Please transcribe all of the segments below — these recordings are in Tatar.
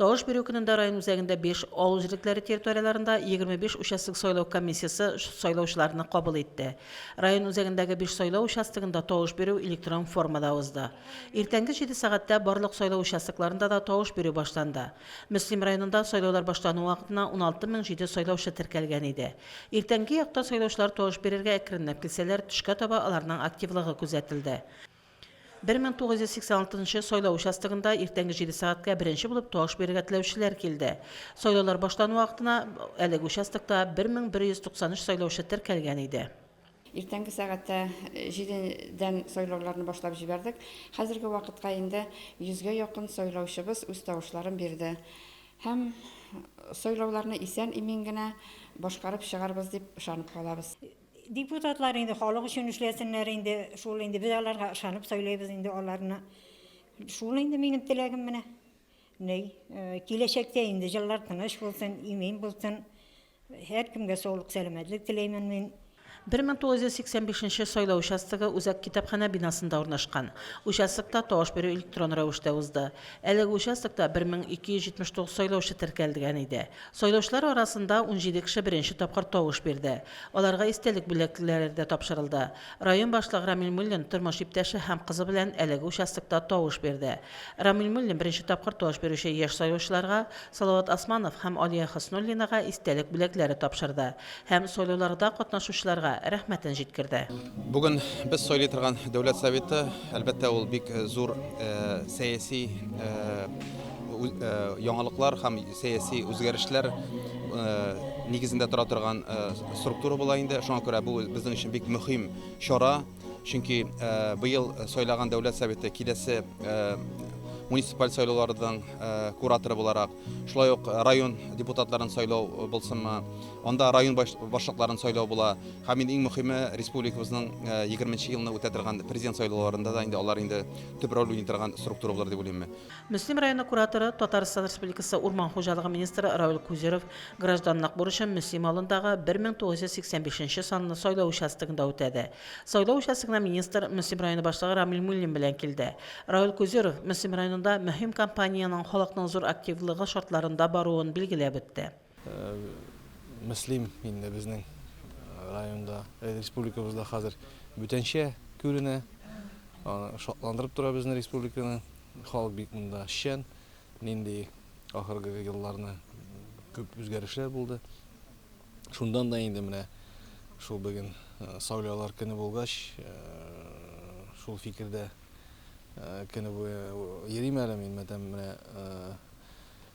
Тавыш бирү көнендә район үзәгендә биш, авыл җирлекләре территорияләрендә 25 участок сайлау комиссиясе сайлаучыларны кабул итте. Район үзәгендәге биш сайлау участогында тавыш бирү электрон формада узды. Иртәнге җиде сәгатьтә барлык сайлау участокларында да тавыш бирү башланды. Мөслим районында сайлаулар башлану вакытына 16 мең җиде сайлаучы теркәлгән иде. Иртәнге якта сайлаучылар тавыш бирергә әкренләп килсәләр, төшкә таба аларның активлыгы күзәтелде. Бер мең тугыз йөз сиксән алтынчы сайлау участогында иртәнге җиде сәгатькә беренче булып тавыш бирергә теләүчеләр килде. Сайлаулар башлану вакытына әлеге участокта 1193 сайлаучы теркәлгән иде. Иртәнге сәгатьтә җидедән сайлауларны башлап җибәрдек. Хәзерге вакытка инде йөзгә якын сайлаучыбыз үз тавышларын бирде. Һәм сайлауларны исән-имин генә башкарып чыгарбыз дип ышанып калабыз. Депутатлар инде халык өчен эшләсеннәр инде, шул инде без аларга ышанып сайлыйбыз инде аларны. Шул инде минем теләгем менә. Ни, э, киләчәктә инде җыллар тыныч булсын, имин булсын. Һәркемгә саулык, сәламәтлек теләймен мин. 1985 сайлау участогы үзәк китапханә бинасында урнашкан. Участокта тавыш бирү электрон рәвештә узды. Әлеге участокта 1279 сайлаучы теркәлгән иде. Сайлаучылар арасында унҗиде кеше беренче тапкыр тавыш бирде. Аларга истәлек бүләкләре дә тапшырылды. Район башлыгы Рамил Муллин тормыш иптәше һәм кызы белән әлеге участокта тавыш бирде. Рамил Муллин беренче тапкыр тавыш бирүче яшь сайлаучыларга, Салават Османов һәм Алия Хөснуллинага истәлек бүләкләре тапшырды. Һәм сайлауларда катнашучыларга рәхмәтен җиткерде. Бүген без сайлый торган Дәүләт Советы, әлбәттә, ул бик зур сәяси яңалыклар һәм сәяси үзгәрешләр нигезендә тора торган структура була инде. Шуңа күрә бу безнең өчен бик мөһим чара. Чөнки быел сайлаган дәүләт советы киләсе муниципаль сайлауларының кураторы буларак, шулай ук район депутатларын сайлау булсынмы, анда район башлыкларын сайлау була. Һәм инде иң мөхиме республикабызның 20 елны үтә торган президент сайлауларында да инде алар инде төп роль уйный торган структура булыр дип уйлыйм. Мөслим районы кураторы, Татарстан Республикасы Урман хуҗалыгы министры Равил Кузеров гражданлык бурычын Мөслим авылындагы 1985 нче санлы сайлау участогында үтәде. Сайлау участогына министр Мөслим районы башлыгы Рамил Муллин белән килде. Равил Кузеров Мөслим районында мөһим кампаниянең халыкның зур активлыгы шартларында баруын билгеләп үтте. Мөслим инде безнең районда, республикабызда хәзер бүтәнчә күренә. Шатландырып тора безне республиканы. Халык бик монда шән. Нинди ахыргы елларны күп үзгәрешләр булды. Шундан да инде менә шул бүген сайлаулар көне булгач, шул фикердә көне буе йөрим әле мин мәдәм менә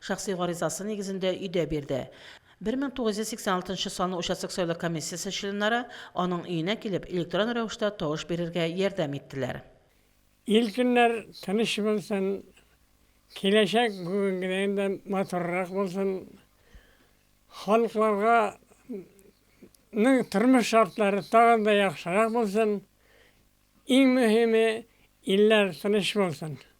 Шәхси гаризасы нигезендә өйдә бирде. 1986 нчы санлы участок сайлау комиссиясе членнары аның өенә килеп, электрон рәвештә тавыш бирергә ярдәм иттеләр. Ил көннәр тыныч булсын, киләчәк бүгенгедәен дә матуррак булсын, халыкларга ның тормыш шартлары тагын да яхшырак булсын, иң мөһиме, илләр тыныч булсын.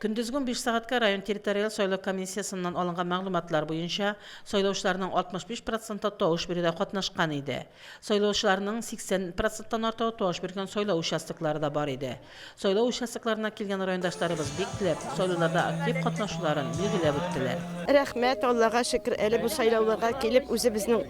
Көндезге унбиш сәгатькә район территориаль сайлау комиссиясеннән алынган мәгълүматлар буенча, сайлаучыларның 65 проценты тавыш бирүдә катнашкан иде. Сайлаучыларның 80 проценттан артыгы тавыш биргән сайлау участоклары да бар иде. Сайлау участокларына килгән райондашларыбыз бик теләп, сайлауларда актив катнашуларын билгеләп үттеләр. Рәхмәт, Аллага шөкер, әле бу сайлауларга килеп, үзебезнең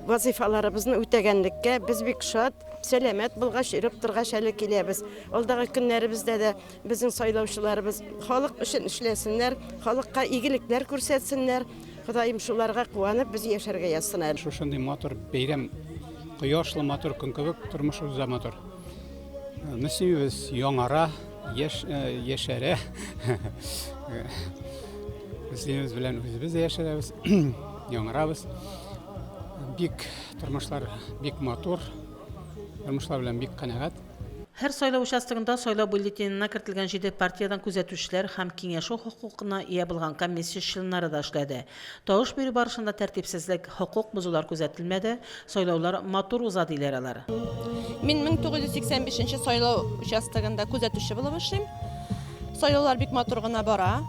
вазыйфаларыбызны үтәгәнлеккә без бик шат. Сәламәт булгач, йөреп торгач әле киләбез. Алдагы көннәребездә дә Безнең сайлаучыларыбыз халык өчен эшләсеннәр, халыкка игелекләр күрсәтсеннәр. Ходаем шуларга куанып, без яшәргә язсын. Шушындый матур бәйрәм, кояшлы матур көн кебек, тормышыбыз да матур. Мөслимебез яңара, яш, яшәрә. Мөслимебез белән үзебез дә яшәрәбез, яңарабыз. Бик тормышлар бик матур. Тормышлар белән бик канәгать. Һәр сайлау участогында сайлау бюллетенена кертелгән җиде партиядән күзәтүчеләр һәм киңәшү хокукына ия булган комиссия членнары да эшләде. Тавыш бирү барышында тәртипсезлек, хокук бозулар күзәтелмәде, сайлаулар матур уза, диләр алар. Мин 1985 нче сайлау участогында күзәтүче булып эшлим. Сайлаулар бик матур гына бара.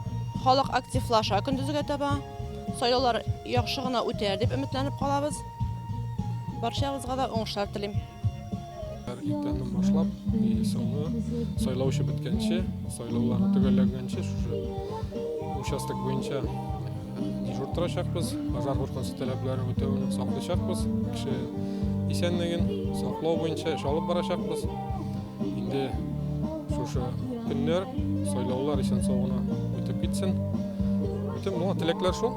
Халык активлаша көндезгә таба. Сайлаулар яхшы гына үтәр дип өметләнеп калабыз. Барчабызга да уңышлар телим. Һәр иртәннән башлап, и соңгы сайлаучы беткәнче, сайлауларны төгәлләгәнче шушы участок буенча дежур торачакбыз, пожар куркынысы таләпләрен үтәвен саклыйчакбыз, кеше исәнлеген саклау буенча эш алып барачакбыз. Инде шушы көннәр сайлаулар исән-сау гына үтеп китсен. Бөтен моңа теләкләр шул.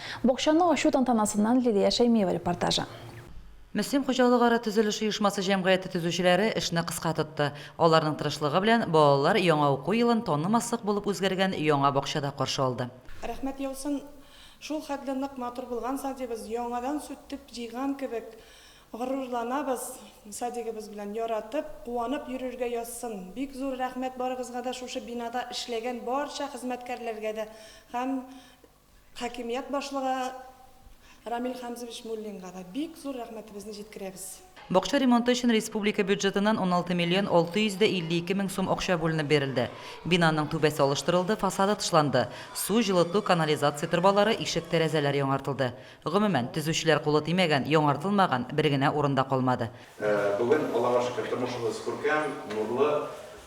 Бакчаны ачу тантанасыннан Лилия Шәймиева репортажы. Мөслим хуҗалыгара төзелеш оешмасы җәмгыяте төзүчеләре эшне кыска тотты. Аларның тырышлыгы белән балалар яңа уку елын танымаслык булып үзгәргән яңа бакчада каршы алды. Рәхмәт яусын, шул хәтле нык матур булган садибыз, яңадан сүтеп җыйган кебек горурланабыз садигыбыз белән, яратып, куанып йөрергә язсын. Бик зур рәхмәт барыгызга да, шушы бинада эшләгән барча хезмәткәрләргә дә һәм. Хакимият башлыгы Рамил Хәмзович Муллинга да бик зур рәхмәтебезне җиткерәбез. Бакча ремонты өчен республика бюджетыннан уналты миллион алты йөз дә илле ике мең сум акча бүленеп бирелде. Бинаның түбәсе алыштырылды, фасады тышланды. Су, җылыту, канализация торбалары, ишек-тәрәзәләр яңартылды. Гомумән, төзүчеләр кулы тимәгән, яңартылмаган бер генә урын да калмады. Бүген, Аллага шөкер, тормышыбыз күркәм, нурлы.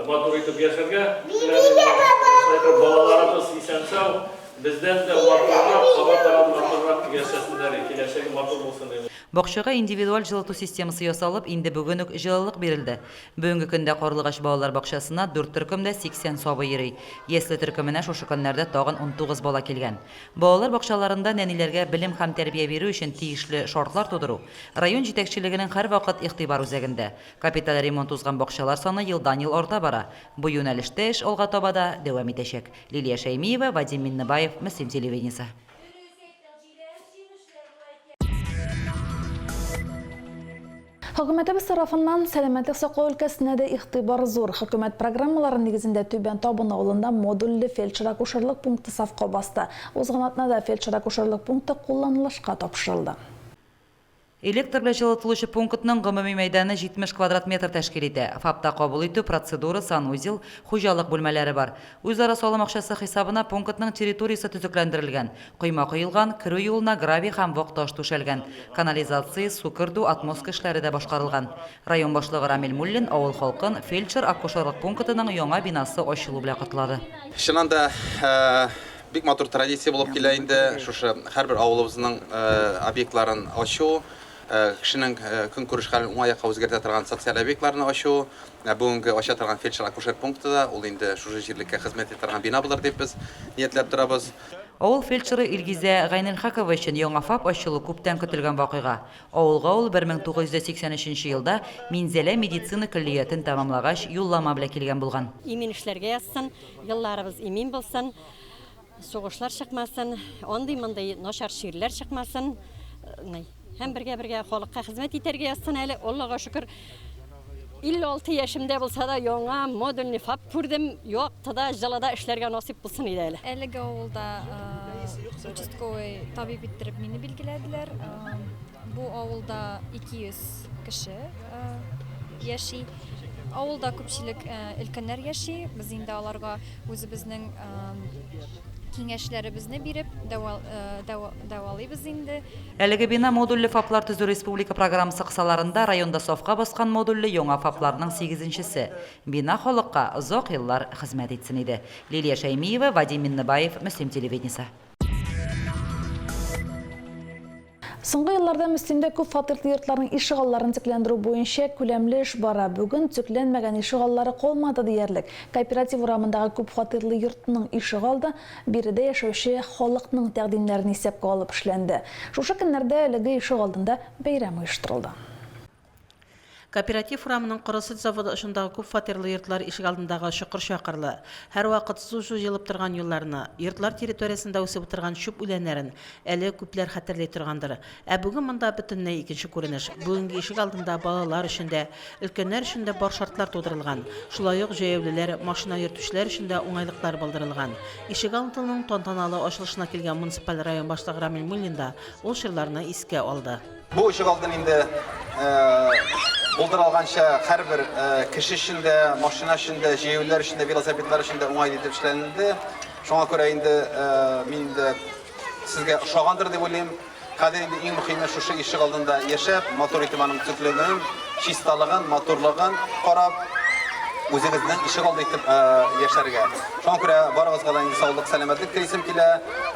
Матур итеп яшәргә теләгез, балаларыбыз исән-сау, бездән дә матуррак, кабатрак, матуррак яшәсеннәр, киләчәге матур булсын. Бакчага индивидуаль җылыту системасы ясалып, инде бүген үк җылылык бирелде. Бүгенге көндә Карлыгач балалар бакчасына дүрт төркемдә 80 сабый йөри. Ясле төркеменә шушы көннәрдә тагын унтугыз бала килгән. Балалар бакчаларында нәниләргә белем һәм тәрбия бирү өчен тиешле шартлар тудыру, район җитәкчелегенең һәрвакыт игътибар үзәгендә. Капиталь ремонт узган бакчалар саны елдан-ел арта бара. Бу юнәлештә эш алга таба да дәвам итәчәк. Лилия Шәймиева, Вадим Миннебаев, Мөслим телевидениесе. Хөкүмәтебез тарафыннан сәламәтлек саклау өлкәсенә дә игътибар зур. Хөкүмәт программалары нигезендә Түбән Табын авылында модульле фельдшер-акушерлык пункты сафка басты. Узган атнада фельдшер-акушерлык пункты кулланылышка тапшырылды. Электр белән җылытылучы пунктның гомуми мәйданы 70 квадрат метр тәшкил итә. ФАПта кабул итү, процедура, санузел, хуҗалык бүлмәләре бар. Үзара салым акчасы хисабына пунктның территориясе төзекләндерелгән, койма коелган, керү юлына гравий һәм вак таш түшәлгән, канализация, су кертү, отмостка эшләре дә башкарылган. Район башлыгы Рамил Муллин авыл халкын фельдшер-акушерлык пунктының яңа бинасы ачылу белән котлады. Чыннан да, Бик матур традиция булып килә инде шушы һәрбер авылыбызның объектларын ачу, кешенең көнкүреш хәлен уңай якка үзгәртә торган социаль объектларны ачу. Менә бүгенге ача торган фельдшер-акушер пункты да ул инде шушы җирлеккә хезмәт итә торган бина булыр дип без ниятләп торабыз. Авыл фельдшеры Илгизә Гайнелхакова өчен яңа ФАП ачылу күптән көтелгән вакыйга. Авылга ул 1983 елда Минзәлә медицина көллиятен тәмамлагач юллама белән килгән булган. Имин эшләргә язсын. Елларыбыз имин булсын, сугышлар чыкмасын, андый-мондый начар чирләр чыкмасын. Э, һәм бергә-бергә халыкка хезмәт итәргә язсын әле. Аллага шөкер, 56 яшемдә булса да яңа модульный фап күрдем. Яктыда, җылыда эшләргә насыйп булсын иде әле. Әлеге авылда э, участковый табиб иттереп мине билгеләделәр. Э, Бу авылда 200 кеше яши. Авылда күпчелек өлкәннәр яши. Без инде аларга үзебезнең киңәшләребезне биреп, дәвалыйбыз инде. Әлеге бина модульле ФАПлар төзү республика программасы кысаларында районда сафка баскан модульле яңа ФАПларның сигезенчесе. Бина халыкка озак еллар хезмәт итсен иде. Лилия Шәймиева, Вадим Миннебаев, Мөслим телевидениесе. Соңгы елларда Мөслимдә күп фатирлы йортларның ишегалларын төкләндерү буенча күләмле эш бара. Бүген төкләнмәгән ишегаллары калмады диярлек. Кооператив урамындагы күп фатирлы йортның ишегалды биредә яшәүче халыкның тәкъдимнәрен исәпкә алып эшләнде. Шушы көннәрдә әлеге ишегалдында бәйрәм оештырылды. Кооператив урамының коры сөт заводы очындагы күп фатирлы йортлар ишегалдындагы чокыр-чакырлы, һәрвакыт су җуелып торган юлларны, йортлар территориясендә үсеп утырган чүп үләннәрен әле күпләр хәтерли торгандыр. Ә бүген монда бөтенләй икенче күренеш. Бүгенге ишегалдында балалар өчен дә, өлкәннәр өчен дә бар шартлар тудырылган. Шулай ук җәяүлеләр, машина йөртүчеләр өчен дә уңайлыклар булдырылган. Ишегалдының тантаналы ачылышына килгән муниципаль район башлыгы Рамил Муллин да ул чорларны искә алды. Бу очык алтын инде булдыралганча һәрбер кеше өчен дә, машина өчен дә, җәяүлеләр өчен дә, велосипедлар өчен дә уңай итеп эшләнелде. Шуңа күрә инде мин инде сезгә ошагандыр дип уйлыйм. Хәзер инде иң мөхиме шушы ишек алдында яшәп, матур итеп аның төкләнүен, чисталыгын, матурлыгын карап, үзегезнең ишек алды итеп яшәргә. Шуңа күрә барыгызга да инде саулык, сәламәтлек телисем килә,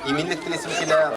иминлек телисем килә.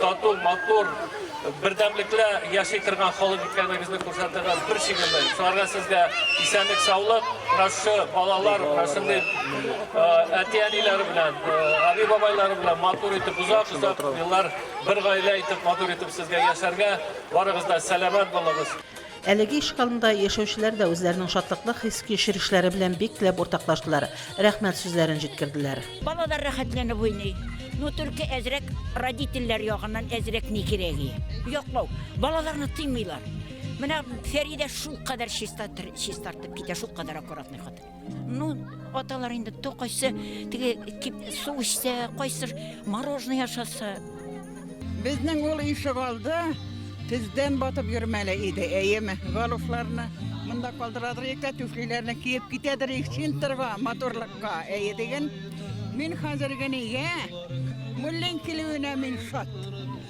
Тату, матур, бердәмлеклә яши торган халык икәнегезне күрсәтергә бер шигелле. Шуларга сезгә исәнлек, саулык, нашы балалар, нашынды әти-әниләре белән, аби-бабайлары белән матур итеп узак, узак еллар бер гаилә итеп матур итеп сезгә яшәргә, барыгыз да сәламәт булыгыз. Әлеге иш кылында яшәүчеләр дә үзләренең шатлыклы хис-кичерешләре белән бик теләп уртаклаштылар, рәхмәт сүзләрен җиткерделәр. Балалар рәхәтләнеп уйный. Ну только әзрәк родительләр ягыннан әзрәк ни кирәги? Яклау. Балаларны тыймыйлар. Менә Фәридә шулкадәр чиста чистартып китә, шулкадәр аккуратный хатын. Ну, аталар инде то кайсы теге су эчсә, кайсы мороженое ашаса. Безнең ул ишек алды, тездән батып йөрмәле иде, әйеме? Галуфларны монда калдырадыр икән, түфлиләрне киеп китәдер их чинтерга, моторлыкка, әйе диген. Мин хәзер генә, муллин килүенә мин шат.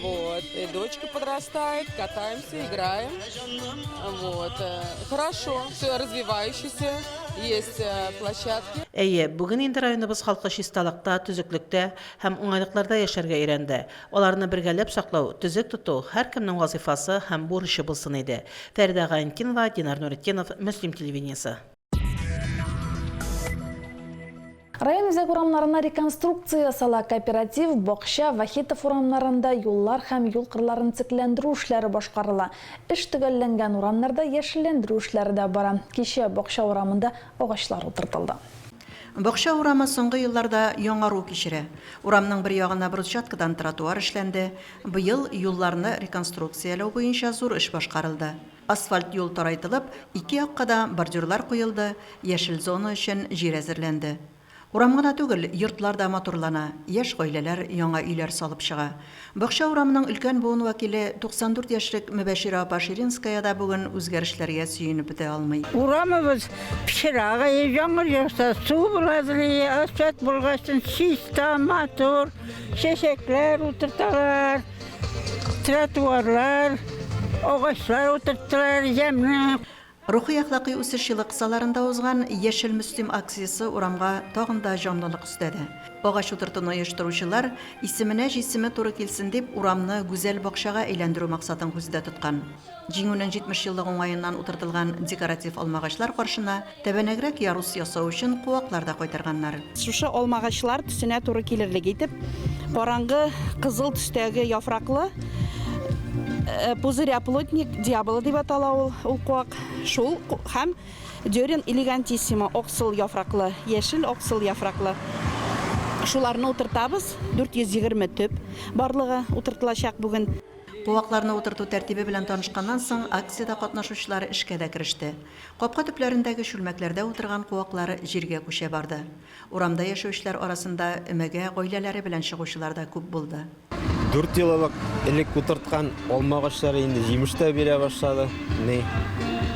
Вот. И дочка подрастает, катаемся, играем. Вот. Э, хорошо, все развивающееся, есть э, площадки. Әйе, бүген инде районыбыз халкы чисталыкта, төзеклектә һәм уңайлыкларда яшәргә өйрәнде. Аларны бергәләп саклау, төзек тоту һәркемнең вазифасы һәм бурычы булсын иде. Фәридә Гаенкинова, Динар Нуретдинов, Мөслим телевидениесе. Район үзәк урамнарына реконструкция ясала, кооператив, бакча, Вахитов урамнарында юллар һәм юл кырларын төзекләндерү эшләре башкарыла. Эш төгәлләнгән урамнарда яшелләндерү эшләре дә бара. Кичә Бакча урамында агачлар утыртылды. Бакча урамы соңгы елларда яңару кичерә. Урамның бер ягына брусчаткадан тротуар эшләнде. Быел юлларны реконструкцияләү буенча зур эш башкарылды. Асфальт юл тарайтылып, ике якка да бордюрлар куелды, яшел зона өчен җир әзерләнде. Урам гына түгел, йортлар да матурлана, яшь гаиләләр яңа өйләр салып чыга. Бакча урамының өлкән буын вәкиле, 94 яшьлек Мөбәширә апа Ширинская да бүген үзгәрешләргә сөенеп бетә алмый. Урамыбыз пычрагый, яңгыр яуса, су булгазлый, асфальт булгачтын чиста, матур, чәчәкләр утырталар. Тротуарлар, агачлар утырттылар, ямьле. Рухи-әхлакый үсеш елы кысаларында узган Яшел Мөслим акциясе урамга тагын да җанлылык өстәде. Агач утыртуны оештыручылар, исеменә җисеме туры килсен дип, урамны гүзәл бакчага әйләндерү максатын күздә тоткан. Җиңүнең 70 еллык уңаеннан утыртылган декоратив алмагачлар каршына тәбәнәгрәк ярус ясау өчен куаклар да кайтарганнар. Шушы алмагачлар төсенә туры килерлек итеп, караңгы кызыл төстәге яфраклы, Пузырь-оплотник дьявола дип атала ул, ул куак, шул, һәм Дёрин элегантиссимо, аксыл яфраклы, яшел-аксыл яфраклы, шуларны утыртабыз. 420 төп барлыгы утыртылачак бүген. Куакларны утырту тәртибе белән танышканнан соң, акциядә катнашучылар эшкә дә кереште. Капка төпләрендәге чүлмәкләрдә утырган куаклар җиргә күчә барды. Урамда яшәүчеләр арасында өмәгә гаиләләре белән чыгучылар да күп булды. Дүрт ел элек элек утырткан алма агачлары инде җимеш тә бирә башлады. Ни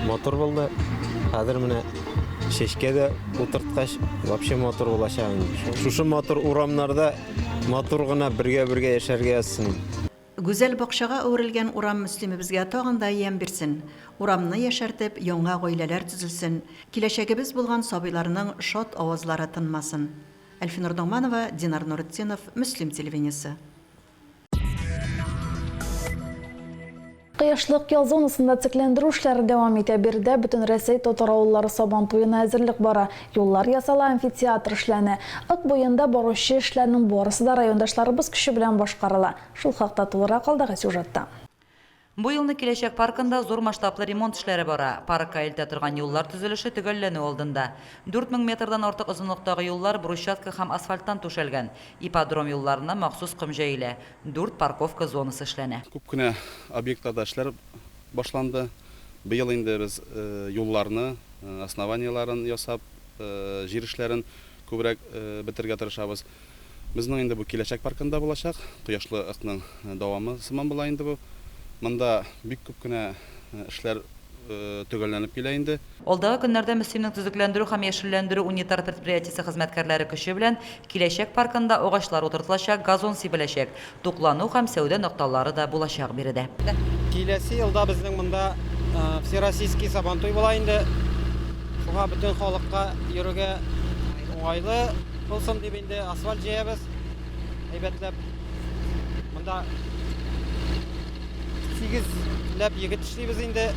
матур булды. Хәзер менә чәчкә дә утырткач, вообще матур булачак инде. Шушы матур урамнарда Матур гына бергә-бергә яшәргә язсын. Гүзәл бакчага әверелгән урам Мөслимебезгә тагын да ямь бирсен, урамны яшәртеп, яңа гаиләләр төзелсен, киләчәгебез булган сабыйларның шат авазлары тынмасын. Әлфинур Догманова, Динар Нуретдинов, Мөслим телевидениесе. Кыяшлык ял зонасында циклендеру эшләре дәвам итә. Биредә Бөтенрәсәй татар авыллары Сабан туена әзерлек бара. Юллар ясала, амфитеатр эшләнә. Ык буенда баручы эшләрнең барысы да райондашларыбыз көче белән башкарыла. Шул хакта тулырак алдагы сюжетта. Бу елны Киләчәк паркында зур масштаблы ремонт эшләре бара. Паркка илтә торган юллар төзелеше төгәлләнү алдында. Дүрт мең метрдан артык озынлыктагы юллар брусчатка һәм асфальттан түшәлгән. Ипподром юлларына махсус ком җәелә. Дүрт парковка зонасы эшләнә. Күп кенә объектларда эшләр башланды. Быел инде без юлларны, основаниеләрен ясап, җир эшләрен күбрәк бетерергә тырышабыз. Безнең инде бу киләчәк паркында булачак. Кояшлы ыкның дәвамы сыман була инде бу. Монда бик күп кенә эшләр төгәлләнеп килә инде. Алдагы көннәрдә Мөслимнең төзекләндерү һәм яшелләндерү унитар предприятиесе хезмәткәрләре көче белән киләчәк паркында агачлар утыртылачак, газон сибеләчәк. туклану һәм сәүдә нокталары да булачак биредә. Киләсе елда безнең монда Всероссийский Сабантуй була инде. Шуңа бөтен халыкка йөрергә уңайлы булсын дип инде асфальт җәябез. Әйбәтләп монда 8 ләп егет эшлибез инде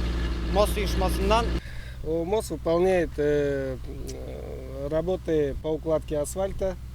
МОС оешмасыннан. МОС выполняет э, э, работы по укладке асфальта.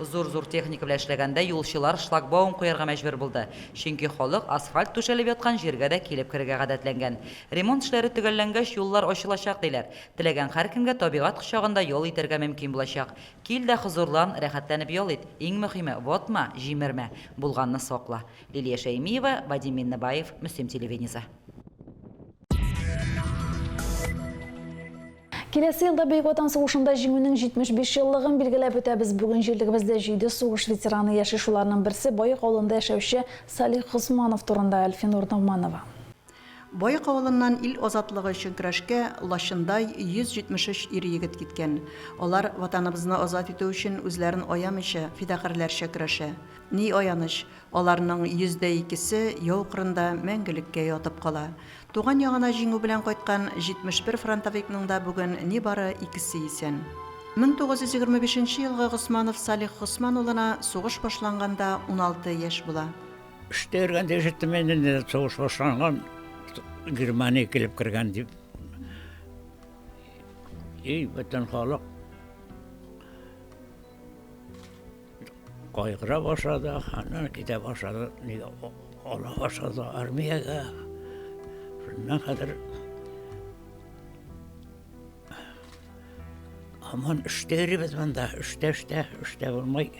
Зур-зур техника белән эшләгәндә юлчылар шлагбаум куярга мәҗбүр булды, чөнки халык асфальт түшәлеп яткан җиргә дә килеп керергә гадәтләнгән. Ремонт эшләре төгәлләнгәч, юллар ачылачак, диләр. Теләгән һәркемгә табигать кочагында ял итәргә мөмкин булачак. Кил дә хозурлан, рәхәтләнеп ял ит. Иң мөхиме, ватма, җимермә. Булганны сакла. Лилия Шәймиева, Вадим Миннебаев, Мөслим телевидениесе. Киләсе елда Бөек Ватан сугышында Җиңүнең 75 еллыгын билгеләп үтәбез. Бүген җирлегебездә җиде сугыш ветераны яши, шуларның берсе, Баек авылында яшәүче Салих Госманов турында Әлфинур Ногманова. Баек авылыннан ил азатлыгы өчен көрәшкә лачындай 173 ир-егет киткән. Алар Ватаныбызны азат итү өчен үзләрен аямыйча, фидакарьләрчә көрәшә. Ни аяныч, Аларның йөз дә икесе яу кырында мәңгелеккә ятып кала. Туган ягына җиңү белән кайткан 71 фронтовикның да бүген нибары икесе исән. 1925 нче елгы Госманов Салих Госман улына сугыш башланганда уналты яшь була. Эштә йөргәндә ишеттем инде, нидер сугыш башланган, Германия килеп кергән дип. И, бөтен халык. Кайгыра башлады, аннан китә башлады, нигә ала башлады армиягә. Шуннан хәзер Аман эштә йөрибез монда, эштә, эштә, эштә булмай.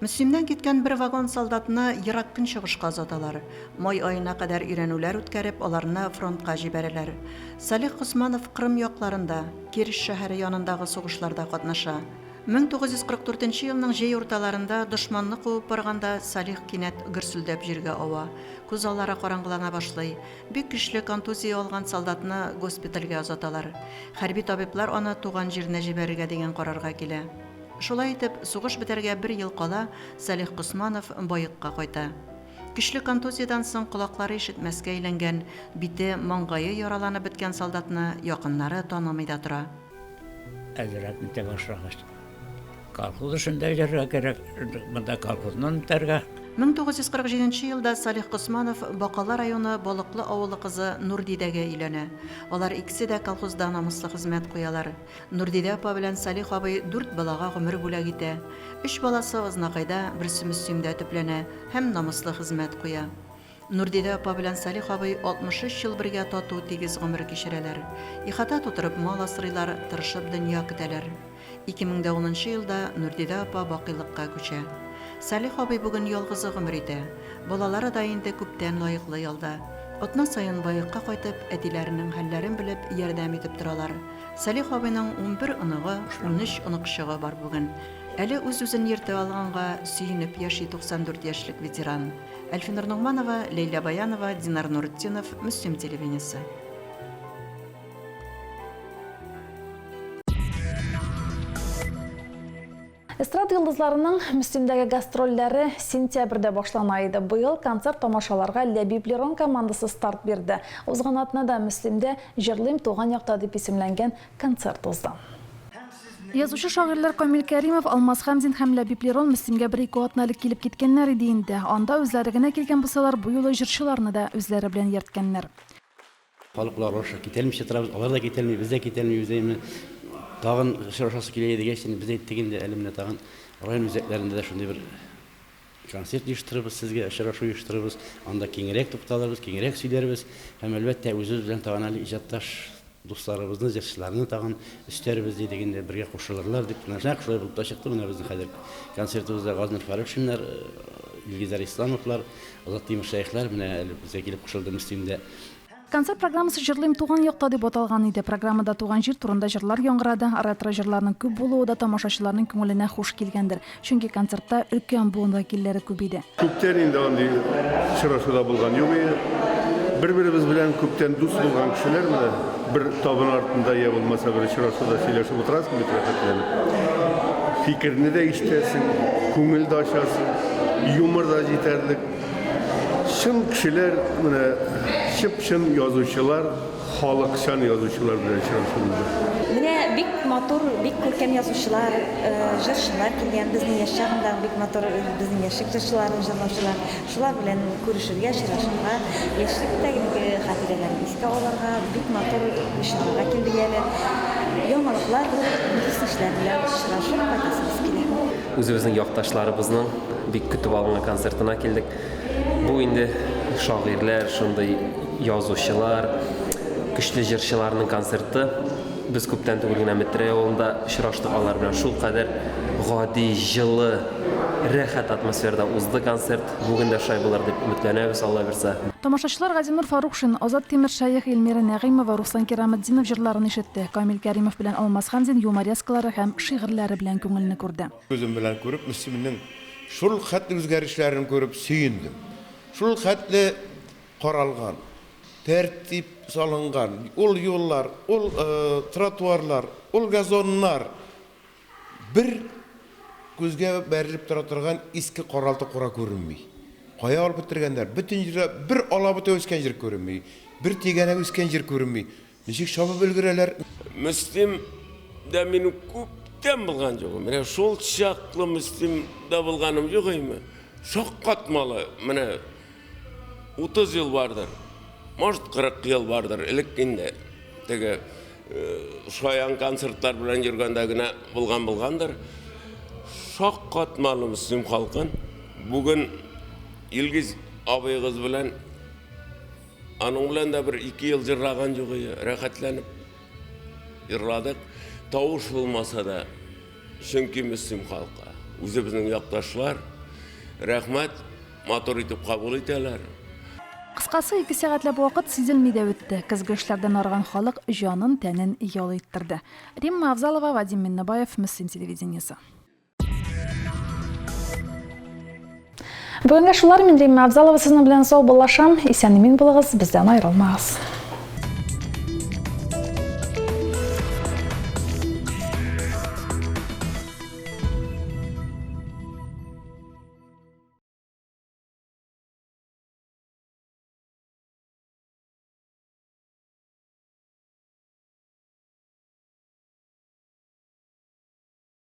Мөслимнән киткән бер вагон солдатны ерак көнчыгышка озаталар. Май аена кадәр өйрәнүләр үткәреп, аларны фронтка җибәрәләр. Салих Госманов Кырым якларында, Керч шәһәре янындагы сугышларда катнаша. 1944 нче елның җәй урталарында, дошманны куып барганда, Салих кинәт гөрселдәп җиргә ава. Күз аллары караңгылана башлый. Бик көчле контузия алган солдатны госпитальгә озаталар. Хәрби табиблар аны туган җиренә җибәрергә дигән карарга килә. Шулай итеп, сугыш бетәргә бер ел кала, Салих Госманов Баекка кайта. Көчле контузиядән соң колаклары ишетмәскә әйләнгән, бите, маңгае яраланып беткән солдатны якыннары танымый да тора. Әзрәк үтә башлагач. Колхоз эшендә йөрергә кирәк, монда колхозны үтәргә. 1947 елда Салих Госманов Бакалы районы Балыклы авылы кызы Нурдидәгә өйләнә. Алар икесе дә колхозда намуслы хезмәт куялар. Нурдидә апа белән Салих абый дүрт балага гомер бүләк итә. Өч баласы Азнакайда, берсе Мөслимдә төпләнә һәм намуслы хезмәт куя. Нурдидә апа белән Салих абый 63 ел бергә тату, тигез гомер кичерәләр. Ихата тутырып мал асрыйлар, тырышып дөнья көтәләр. 2010 нчы елда Нурдидә апа бакыйлыкка күчә. Салих абый бүген ялгызы гомер итә. Балалары да инде күптән лаеклы ялда. Атна саен Баекка кайтып, әтиләренең хәлләрен белеп, ярдәм итеп торалар. Салих абыйның унбер оныгы, унөч оныкчыгы бар бүген. Әле үз-үзен йөртә алганга сөенеп яши 94 яшьлек ветеран. Әлфинур Ногманова, Ләйлә Баянова, Динар Нуртдинов, Мөслим телевидениесе. Эстрада йолдызларының Мөслимдәге гастрольләре сентябрьдә башлана иде. Быел концерт тамашаларга Ләбиб Лерон командасы старт бирде. Узган атнада Мөслимдә Җырлыйм туган якта дип исемләнгән концерт узды. Язучы-шагыйрьләр Камил Кәримов, Алмаз Хәмзин һәм Ләбиб Лерон Мөслимгә бер-ике атна элек килеп киткәннәр иде инде. Анда үзләре генә килгән булсалар, бу юлы җырчыларны да үзләре белән йөрткәннәр. Халыклар аша китәлмичә торабыз, алар да китәлми, без дә китәлмибез. Әйе, менә тагын очрашасы килә иде дигәч, без әйттек инде, әле менә тагын район үзәкләрендә дә шундый бер Концерт оештырырбыз, сезгә очрашу оештырырбыз, анда киңрәк тукталырбыз, киңрәк сөйләрбез һәм, әлбәттә, үзебез белән тагын әле иҗатташ дусларыбызны, җырчыларны тагын өстәрбез, дидек инде, бергә кушылырлар дип. Менә нәкъ шулай булып та чыкты, менә безнең хәзер концертыбызда Газнур Фәрүшиннар, Илгизәр Исламовлар, Азат Тимершәехләр менә әле безгә килеп кушылды Мөслимдә. Концерт программасы Җырлыйм туган якта дип аталган иде. Программада туган җир турында җырлар яңгырады. Ретро җырларның күп булуы да тамашачыларның күңеленә хуш килгәндер, чөнки концертта өлкән буын вәкилләре күп иде. Күптән инде андый очрашу да булган юк иде. Бер-беребез белән күптән дус булган кешеләр менә бер табын артында йә булмаса бер очрашуда сөйләшеп утырасың бит рәхәтләнеп. Фикерне дә ишетәсең, күңел дә ачасың, юмор да җитәрлек. Чын кешеләр, менә чып-чын язучылар, халыкчан язучылар белән очрашу булды. Менә бик матур, бик күркәм язучылар, җырчылар килгән, безнең яшь чагындагы бик матур безнең яшьлек җырчыларын җырлаучылар. Шулар белән күрешергә, очрашырга, яшьлектәге хатирәләрне искә алырга, бик матур чарага килдек әле. Яңалыклар булып, дус-ишләр белән очрашып кайтасыбыз килә. Үзебезнең якташларыбызның Бик көтеп алынган концертына килдек. Бу инде шагыйрьләр, шундый язучылар, көчле җырчыларның концерты. Без күптән түгел генә Метрәй авылында очраштык алар белән. Шул кадәр гади, җылы, рәхәт атмосферада узды концерт. Бүген дә шулай булыр дип өметләнәбез, Алла бирса. Тамашачылар Газинур Фарукшин, Азат Тимершәех, Илмира Нәгыймова, Руслан Кираметдинов җырларын ишетте, Камил Кәримов белән Алмаз Хәмзин юморескалары һәм шигырьләре белән күңелне күрде. Күзем белән күреп, Мөслимнең шул хәтле үзгәрешләрен күреп сөендем. Шул хәтле каралган, тәртип салынган, ул юллар, ул тротуарлар, ул газоннар бер күзгә бәрелеп тора торган иске каралты-кура күренми. Кая алып бетергәннәр? Бөтен җирдә бер алабута үскән җир күренми, бер тигәнәк үскән җир күренми. Ничек чабып өлгерәләр? Мөслим дә мин күптән булган юк. Менә шул чаклы Мөслим дә булганым юк име? Шаккатмалы, менә 30 ел бардыр. Может, 40 ел бардыр. Элек инде теге шаян концертлар белән йөргәндә генә булган булгандыр. Шаккатмалы Мөслим халкын. Бүген Илгиз абыегыз белән Аның белән дә бер ике ел җырлаган җыгые, рәхәтләнеп җырладык. Тавыш булмаса да, чөнки Мөслим халкы, үзебезнең якташлар, рәхмәт, матур итеп кабул итәләр. Кыскасы, ике сәгатьләп вакыт сизелми дә үтте. Көзге эшләрдән арыган халык җанын-тәнен ял иттерде. Римма Авзалова, Вадим Миннебаев, Мөслим телевидениесе. Бүгенге шулар мин Римма Абзалова сезнең белән сау буллашам. Исән имин булыгыз, бездән аерылмагыз.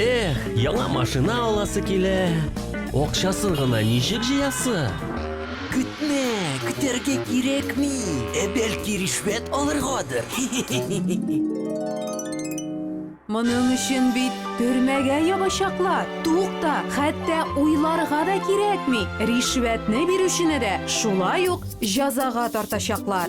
Эх, яңа машина аласы килә. Акчасын гына ничек җыясы? Көтмә, көтәргә кирәкми. Ә бәлки ришвәт алыргадыр? Моның өчен бит төрмәгә ябачаклар. Тукта, хәтта уйларга да кирәкми. Ришвәтне бирүчене дә шулай ук җәзага тартачаклар.